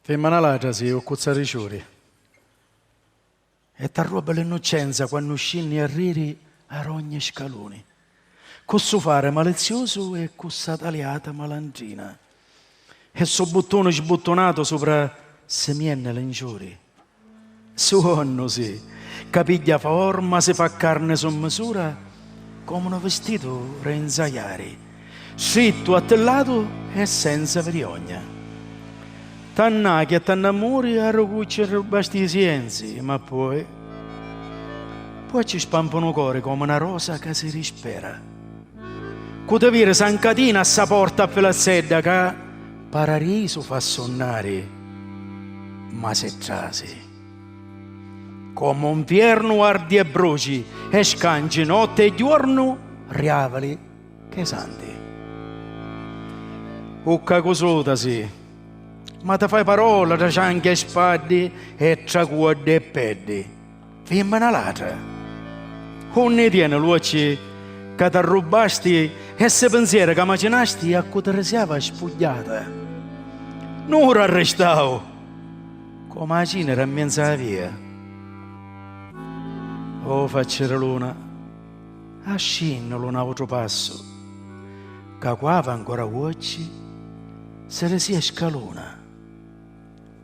Fimmina ladra si u cuzza ri ciuri e t'arrobba l'innuccenza quannu scinni a riri a r'ogni scaluni cu su fari maliziusu e cu sa taliata malandrina e su buttuni sbuttunatu supra simienni l'inciuri Suonnu si. Ca pigghia forma si fa carni su misura comu nu vistitu ri nzajari, strittu a tri latu e senza viriogna. T'annacchi e t'annamuri a rugucci ri lu basti sienzi, ma poi. Poi ci spampu nu cori comu na rosa ca si rispera. Cu ti viri s'ancatina a sa porta a filazzedda ca Pararisu fa sunnari ma si trasi. Comu 'nfiernu ardi e bruci e scanci notti e juornu riavali ch'e santi. Ucca cusutasi ma ti fai parola tra cianchi e spaddi e tra cuoddi e peddi. Fimmina ladra! Unni i tieni l'uocchi ca t'arrubbasti e ssi pinzieri ca macinasti a cu ti risiava spugghiata? Nura arristau comu a cinira in menzu a via. O facci di luna, ascinni lu nautru passu ca cu avi ancora uocchi si risia scaluna.